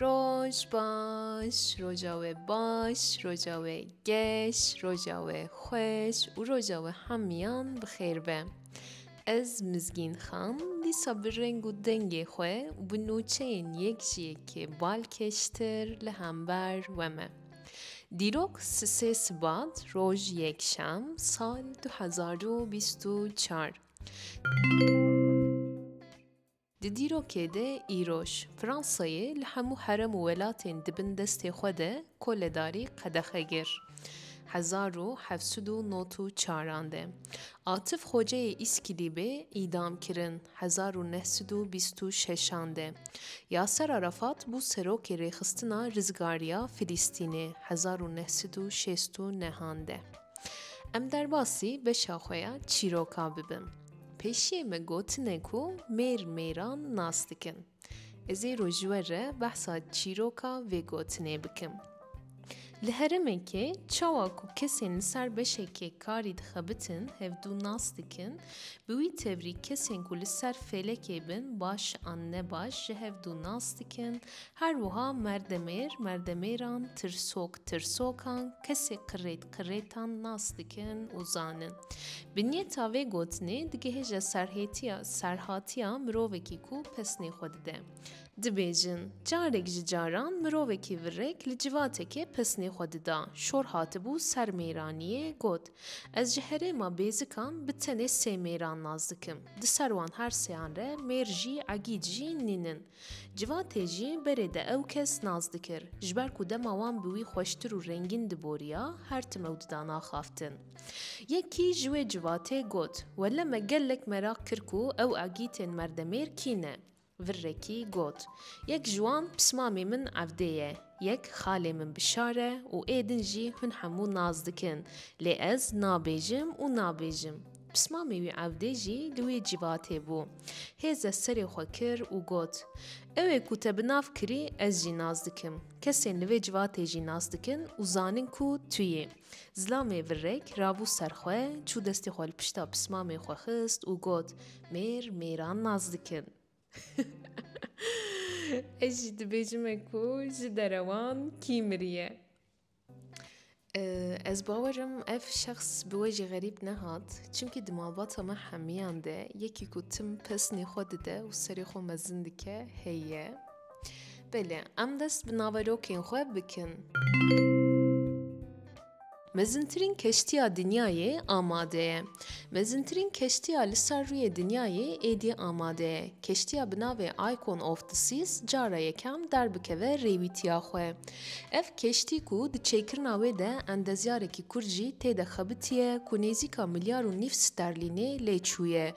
Roj baş, roja we baş, roja we geş, roja we xweş û roja we hemiyan bi xêr be. Ez Mizgîn Xan dîsa bi reng û dengê xwe û bi nûçeyên yek ji yekê balkêştir li hember we me. Dîrok sisê Sibat roj yekşem sal du hezar û bîst û çar. Di dîrokê de îroj Fransayê li hemû herem û welatên di bin destê xwe de koledarî qedexe gir hezar û heft sed û nod û çaran de. Atif Xoceyê Îskilî bê îdam kirin hezar û neh sed û bîst û şeşan de. Yaser Arafat bû serokê Rêxistina Rizgariya Filîstînê hezar û neh sed û şêst û nehan de. Em derbasî beşa xwe ya çîroka bibin. Pêşiyê me gotine ku mêr mêran nas dikin. Ez ê rojwe re behsa çîroka vê gotinê bikim. Li heremekê çawa ku kesên li ser beşekê karî dixebitin hevdû nas dikin, bi wî tevî kesên ku li ser fêlekê bin baş an nebaş ji hevdû nas dikin, her wiha merdemêr merdemêran, tirsok tirsokan, kesê qirêt qirêtan nas dikin û zanin. Bi niyeta vê gotinê digihêje serhêtiya serhatiya mirovekî ku pesnê xwe dide. Dibêjin, carek ji caran mirovekî virek li civatekê pesnê xwe dida, şor hatibû ser mêraniyê, got, Ez ji herêma bêzikan bi tenê sê mêran nas dikim. Di ser wan her seyan re mêr jî egîd jî nînin. Civatê jî berê de ew kes nas dikir. Ji ber ku dema wan bi wî xweştir û rengîn diboriya, her tim ew dida naxaftin. Yekî ji wê civatê got, Wele me gelek meraq kir ku ew agîtên merdemêr kî ne? Virrekî got, Yek ji wan pismamê min Evdê ye, yek xalê min Bişar e û êdin jî hûn hemû nas dikin, lê ez nabêjim û nabêjim. Pismamê wî evdê jî di wê cîvatê bû. Hêze serê xwe kir û got, Ew ê ku te bi nav kirî ez jî nas dikim. Kesên li vê civatê jî nas dikin û zanin ku tu yî. Zilamê virrek rabû ser xwe, çû destê xwe li pişta pismamê xwe xist û got, Mêr mêran nas dikin. Ez jî dibêjime ku ji derewan kî miriye. Ez bawer im ev şexs bi we jî xerîb nehat çimkî di malbata me hemiyan de yekî ku tim pesnê xwe dide û serê xwe mezin dike heye Belê em dest bi naverokên xwe bikin. Mezintirîn keştiya dinyayê amade ye. Mezintirîn keştiya li ser rûyê dinyayê êdî amade ye. Keştiya bi navê Icon of the Seas cara yekem derbikeve rêwîtiya xwe. Ev keştî ku di çêkirina wê de endezyarekî Kurd jî tê de xebitiye ku nêzîka milyar û nîv sterlînê lê çûye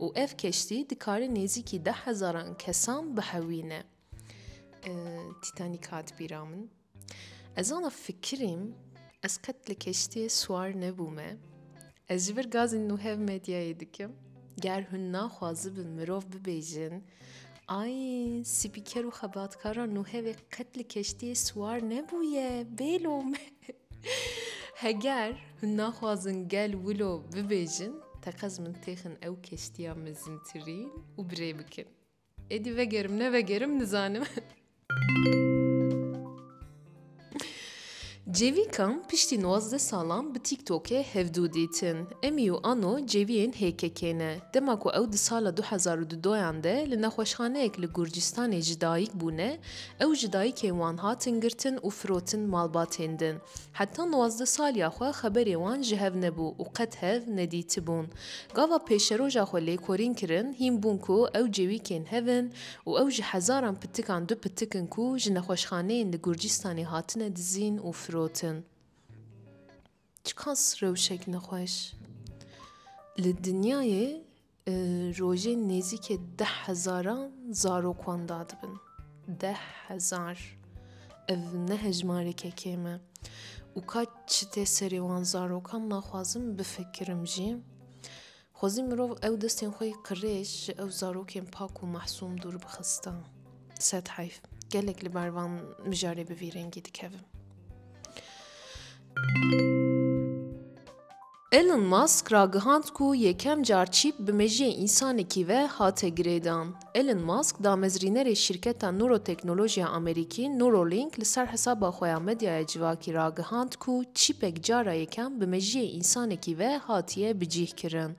û ev keştî dikare nêzîkî deh hezaran kesan bihewîne. Tîtanîk hat bîra min. Ez ana fikirîm ez qet li keştiyê siwar nebûme. Ez ji vir gazên nû hev medyayê dikim. Ger hûn naxwazibin mirov bibêjin, Ay, spîker û xebatkaran nû hevê qet li keştiyê siwar nebûye, bêlo me. Heger hûn naxwazin gel wilo bibêjin, teqez min têxin ew keştiya mezintirîn û bi rê bikin. Êdî vegerim nevegerim nizanim. Cêvîkan piştî nwazdeh salan bi TikTokê hevdû dîtin. Emî û Ano cêviyên HKK'ê ne. Dema ku ew di sala du hezar û du doyan de li nexweşxaneyek li Gurcistanê ji dayik bûne, ew ji dayikên wan hatin girtin û firotin malbatên din. Heta nwazdeh saliya xwe xeberê wan ji hev nebû û qet hev nedîtibûn. Gava pêşeroja xwe lêkorîn kirin, hîn bûn ku ew cêwîkên hev in û ew ji hezaran pitikan du pitik in ku ji nexweşxaneyên li Gurcîstanê hatine dizîn û firotin. Çiqas rewşek nexweş! Li dinyayê rojên nêzîkê deh hezaran zarok wan dadibin. Deh hezar. Ev ne hejmareke kêm e. Û ka çi tê serê wan zarokan naxwazim bifikirim jî. Xwezî mirov ew destên xwe yê qirêj ji ew zarokên pak û mahsûm dûr bixista. Sed heyf. Gelek li ber van mijarê bi vî rengî dikevim. Elon Musk ragihand ku yekem car çîp bi mejiyê însanekî ve hate girêdan. Elon Musk damezrînerê şîrketa nûroteknolojiya Amerîkî Neuralink li ser hesaba xwe ya medyaya civakî ragihand ku çîpek cara yekem bi mejiyê însanekî ve hatiye bicîhkirin.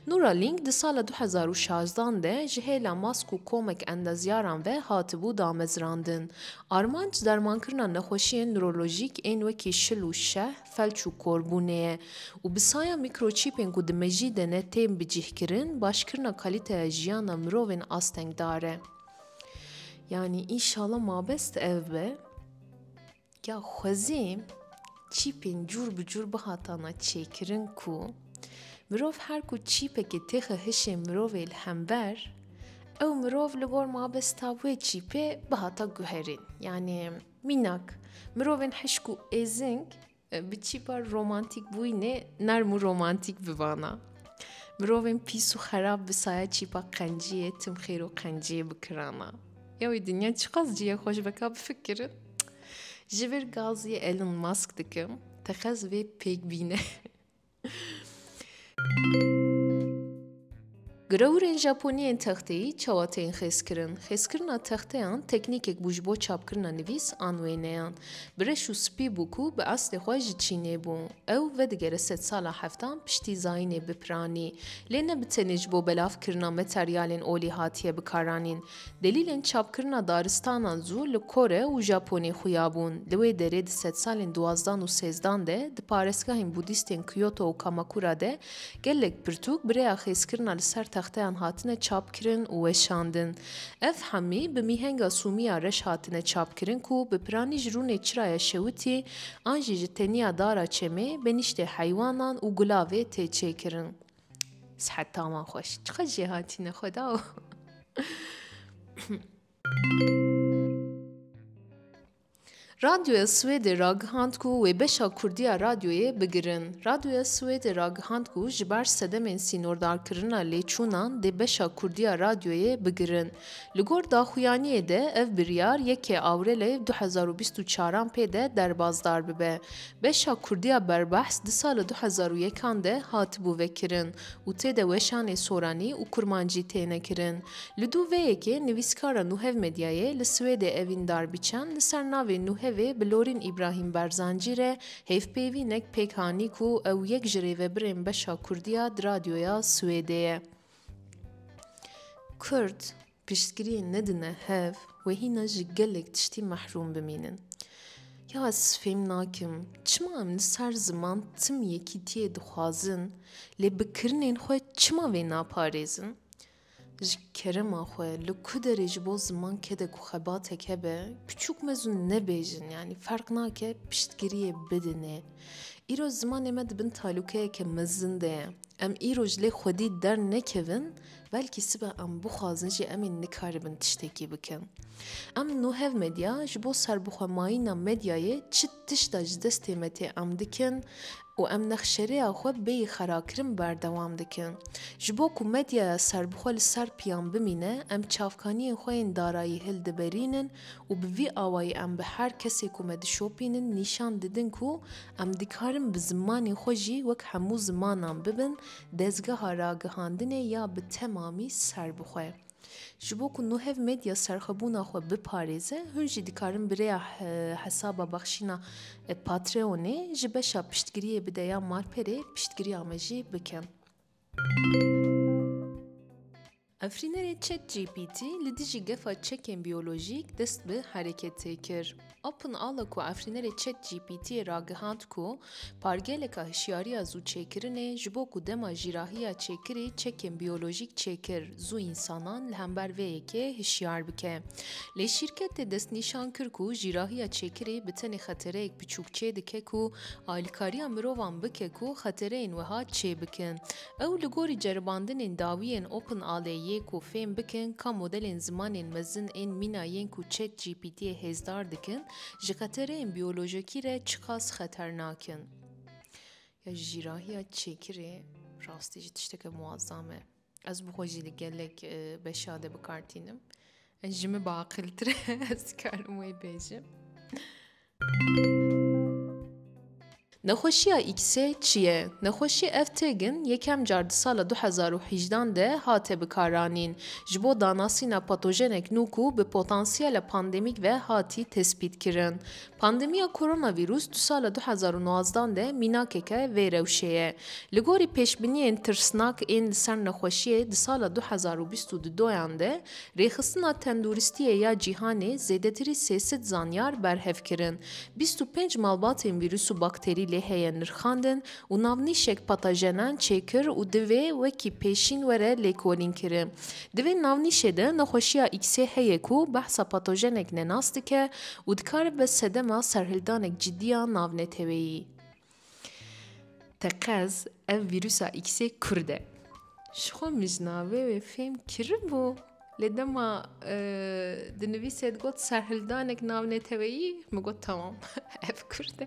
Neuralink di sala du hezar û şazdeh de ji hêla Musk û komek endezyaran ve hatibû damezrandin. Armanc dermankirina nexweşiyên nurolojîk ên wekî şil û şeh, felç û korbûnê ye û bi saya mîkroçîpên ku di mejî de ne tên bicîhkirin başkirina kalîteya jiyana mirovên astengdar e. Yanî înşala mabest ev be ya xwezî çîpên cûr bi cûr bihatana çêkirin ku mirov her ku çîpekê têxe hişê mirovê li hember ew mirov li gor mabesta wê çîpê bihata guherîn. Yanî Mînak, mirovên hişk û êzing bi çî par romantîk bûyînê nerm û romantîk bivana. Mirovên pîs û xerab bi saya çîpa qenciyê, timxêr û qenciyê bikirana. Ya wî dinya çiqas cî ye xweş veka bifikirin. Ji vir gaziyê Elon Musk dikim, teqez vê pêk bîne. Girewirên Japonî yên texteyî çawa tên xêzkirin? Xêzkirina texteyan teknîkek bû ji bo çapkirina nivîs an wêneyan. Bi reş û spî bû ku bi eslê xwe ji Çînê bû. Ew vedigere sed sala heftan piştî zayînê bipiranî. Lê ne bi tenê ji bo belavkirina materyalên olî hatiye bikaranîn. Delîlên çapkirina daristanan zû li Kore û Japonê xuya bûn. Li wê derê di sedsalên duwazdan û sêzdan de di parêzgahên Budîstên Kyoto û Kamakura de gelek pirtûk bi rêya xêzkirina li ser texteyan hatine çapkirin û weşandin. Ev hemî bi mîhenga sûmî ya reş hatine çapkirin ku bi piranî ji rûnê çiraya şewitî an jî ji teniya dara çemê, benîştê heywanan û gulavê tê çêkirin. Sihet tama xweş. Çiqas jê hatîne xweda o. Radyoya Swêdê ragihand ku wê beşa Kurdî ya radyoyê bigirin. Radyoya Swêdê ragihand ku ji ber sedemên sînordarkirina lêçûnan dê beşa Kurdî ya radyoyê bigirin. Li gor daxuyaniyê de ev biryar yekê Awrelê du hezar û bîst û çar an pê de derbazdar bibe. Beşa kurdî ya berbehs di sala du hezar û yek an de hatibû vekirin û tê de weşanê soranî û kurmancî têne kirin. Li du vê yekê nivîskara Nuhev Medyayê li Swêdê Evîn Darbiçan li ser navê Nuhevê bi Lorîn Îbrahîm Berzancî re hêvpêvînek pêk anî ku ew yek ji rêvebirên beşa kurdî ya di radyoya Swêdê ye. Kurd piştgiriyê nedine hev wê hîna ji gelek tiştî mehrûm bimînin. Ya ez fêm nakim çima em li ser ziman tim yekîtiyê dixwazin lê bi kirinên xwe çima vê naparêzin? Ji kerema xwe li ku derê ji bo ziman kede ku xebatek hebe piçûk mezûn nebêjin yanî ferq nake piştgiriyê bidinê. Îro zimanê me di bin talûkeyeke mezin de ye. Em îro ji lê xwedî dernekevin, belkî sibe em bixwazin jî em ê nikaribin tiştekî bikin. Em no hev medya ji bo serbixwemayîna medyayê çi tişta ji destê me tê em dikin û em nexşereya xwe bêyî xerakirin berdewam dikin. Ji bo ku medyaya serbixwe li ser piyan bimîne, em çavkaniyên xwe yên darayî hildiberînin û bi vî awayî em bi her kesê ku me dişopînin nîşan didin ku Em dikarin bi zimanê xwe jî wek hemû zimanan bibin dezgeha ragihandinê ya bi temamî serbixwe. Ji bo ku nuhev medya serxwebûna xwe biparêze, hûn jî dikarin bi rêya hesaba bexşîna Patreonê ji beşa piştgiriyê bide ya malperê piştgiriya me jî bikin. Efrînerê ChatGPT li dijî gefa çekên biyolojîk dest bi hereketê kir. OpenAL'a ku efrînerê ChatGPT'ê ragihand ku pargeleka hişyariya zû çêkirinê ji bo ku dema jîrahiya çêkirî çekên biyolojîk çêkir zû însanan li hember vê yekê hişyar bike. Lê şîrketê destnîşan kir ku jîrahiya çêkirî bi tenê xetereyek biçûk çêdike ku alîkariya mirovan bike ku xetereyên wiha çêbikin. Ew li gorî ceribandinên dawî yên OpenALE yê ku fêm bikin ka modelên zimanên mezin ên mîna yên ku ChatGPT'ê hêzdar dikin, ji xetereyên biyolojikî re çiqas xeternak in. Ya ji jîrahiya çêkirê rastî jî tişteke muazzam e. Ez bi xwe jî li gelek beşa de bikar tînim. Ji min biaqiltir e, ez dikarim wê bêjim. Nexweşiya X-ê çi ye? Nexweşî ev têgin yekem car di sala du hezar û hîjdan de hate bikaranîn ji bo danasîna patojenek nû ku bi potansiyele pandemîk ve hatî tespîtkirin. Pandemiya koronavîrûs di sala du hezar û nozdan de mînakeke vê rewşê ye. Li gorî pêşbîniyên tirsnak ên li ser nexweşiyê di sala du hezar û bîst û duyan de, Rêxistina Tenduristiyê ya Cîhanê zêdetirî sê sed zanyar berhev kirin. Bîst û pênc malbatên vîrus û bakterî lê heye nirxandin û navnîşek patajenan çêkir û divê wekî pêşîn were lêkolîn kirin. Di vê navnîşê de nexweşiya Xê heye ku behsa patojenek nenas dike û dikare bibe sedema serhildanek cidî ya navneteweyî. Teqez ev vîrusa Xê kurd e. Ji xwe mijnavê wê fêm kiribû lê dema dinivîse digot serhildanek navneteweyî min got temam ev kurd e.